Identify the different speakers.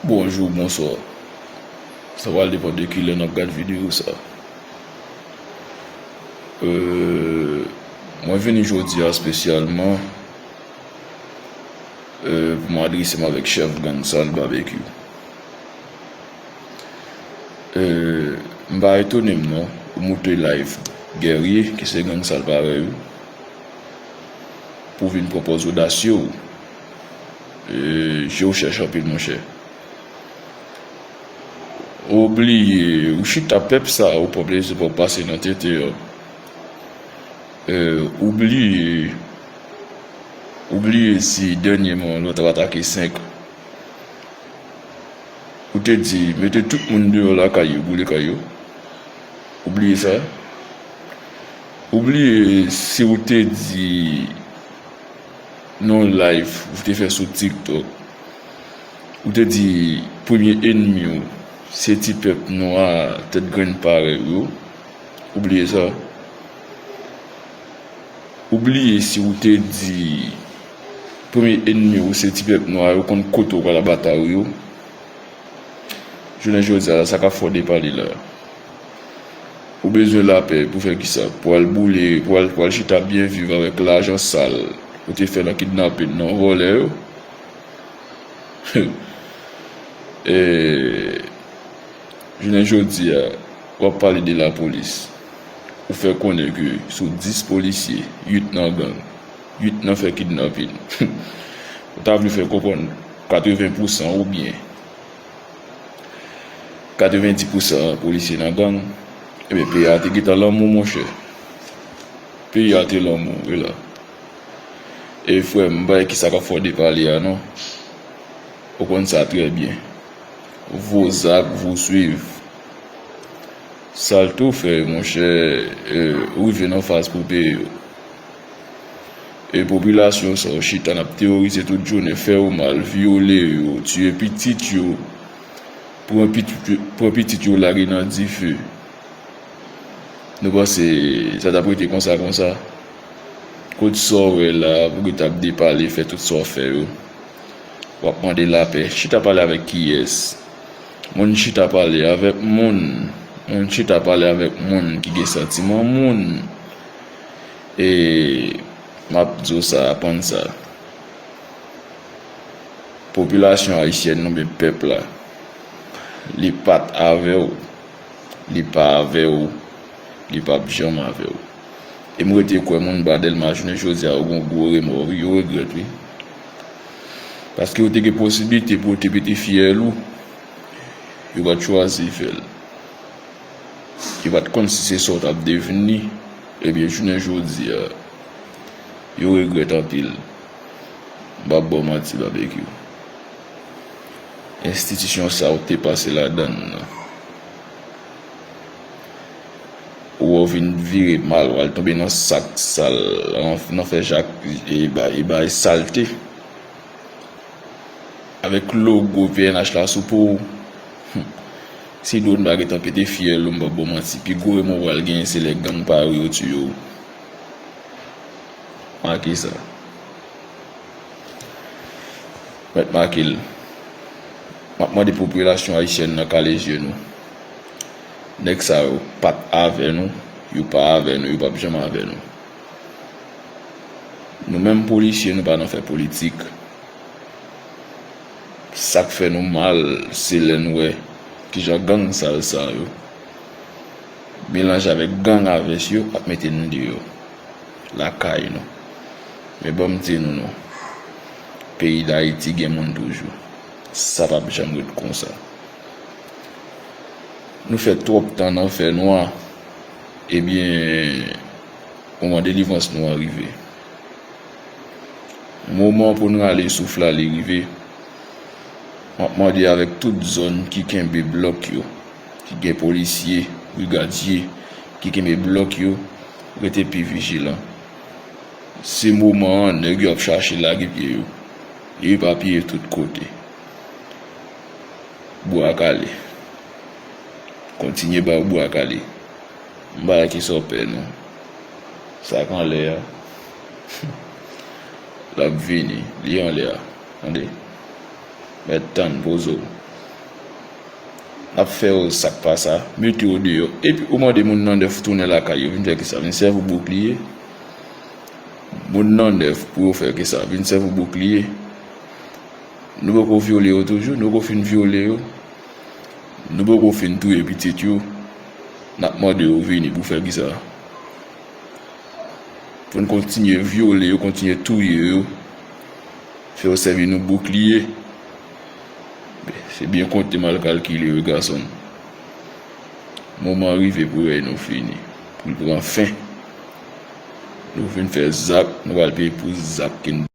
Speaker 1: Bonjour bonsoir sa pral depan de kilè nap gad video sa euh mwen vini jodia spesyalman euh pou m adresem avèk chèf gang sal babekyou euh m pa etonem non ou moute live guerrier ki se gang sal parèy ou pou vin pran pòz odasye w. Je w chèch anpil monchè. Ou bliye ou chita pèp sa ou pap lese pap pase nan tete yo Ou bliye Ou bliye si dènyeman lòt ap atake 5 Ou te di mete tout moun deyò lakay yo boule kay yo Ou bliye sa Ou bliye si ou te di nan yon live ou te fè sou tiktok ou te di premye enmi w se ti pèp nwa tèt grenn parèy ou yo ou bliye sa ou bliye si ou te di premye enmi w se ti pèp nwa yo konn kote ou pral ap batay ou yo jounen jodi a sa kap fè w depale la. Ou bezwen lapè pou fè kisa? Pou al boule, pou al pou al chita ap byen viv avèk lajan sal ou te fè nan kidnapping nan vòlè yo humm eehh jounen jodia wap pale de la polis ou fè konnen ke sou 10 polisye 8 nan gang 8 nan fè kidnapping humm ou ta vle fè konprann 80 pousan ou byen. 90 pousan polisye nan gang Ebyen peyi a te gentan lanmou monchè Peyi a te lanmou wi la E frè m pa wè kisa k ap fè w depale a non Ou konn sa trè byen Vo zak vo swiv Sa l te w fè monchè Ou rive nan faz pou w peye yo E popilasyon sa w chita nap teworize tout jounen fè yo mal vyole yo tiye pitit yo pran pitit yo lage nan dife nou panse sa tap rete konsa konsa kot sa w wè la pou ki tap depale fè tout sa w fè yo wap mande lapè chita pale avèk kiyès moun chita pale avèk moun moun chita pale avèk moun ki gen santiman moun. E map di w sa aprann sa popilasyon ayisyèn nou oubyen pèp la li pat avè w li pa avè w li pap janm avè w e m rete kwè moun ba Dèlma jounen jodi a yo gen yon gwo remò wi yo regrèt wi paske yo te gen posiblite pou yo te pete fyèl ou yo pat chwazi fè l. yo pat konn si se sa w tap devni ebyen jounen jodi a yo regrèt anpil m pap ba w manti Babekyou enstitisyon sa w te pase ladan l lan wè w vin vire mal wal tonbe nan sak sal nan fè jak e bay salte avèk logo pnh la sou po w humm. Si drone pa gentan pete fyèl ou m pap baw manti pi gwo remò ou pral genyen se lè gang pa yo yo tiye w make sa mèt make l map mande popilasyon ayisyèn nan kale zye nou nèg sa yo pat avè nou yo pa avè nou yo pap janm avè nou nou menm polisye nou pa nan fè politik. Sak fè nou mal se lè n wè kijan gang sal sa yo melanje avèk gang a vès yo ap mete n deyò lakay nou men ban m di nou non peyi dayiti gen moun toujou sa pap janm ret konsa nou fè twòp tan nan fè nwa ebyen moman delivrans nou an rive. Moman pou n rale souf la li rive. M ap mande avèk tout zòn ki kenbe blòk yo, ki gen polisye, brigadye ki kenbe blòk yo, rete pi vijilan. Se moman an nèg yo ap chache lage pye yo. Yo epapiye tout kote. Bwa kale. Kontinye ba yo bwa kale. M pa wè ki sa w pè non. Sa k anlè a. Humm lap vini li anlè a tande mèt tann pozo lap fè yo sak pa sa mete yo deyò epi ou mande moun nan 9 tounen lakay yo vin fè kisa vin sèvi w boukliye moun nan 9 pou yo fè kisa vin sèvi w boukliye nou poko vyole yo toujou nou poko fin vyole yo nou poko fin touye pitit yo nap mande yo vini pou fè kisa. Pou n kontinye vyole yo, kontinye touye yo, fè yo sèvi nou boukliye. Se byen konte mal kalkile wi gason m. Moman an rive pou rèy nou fini, pou l pran fen. Nou fin fè zak, nou pral peye pou zak ke n.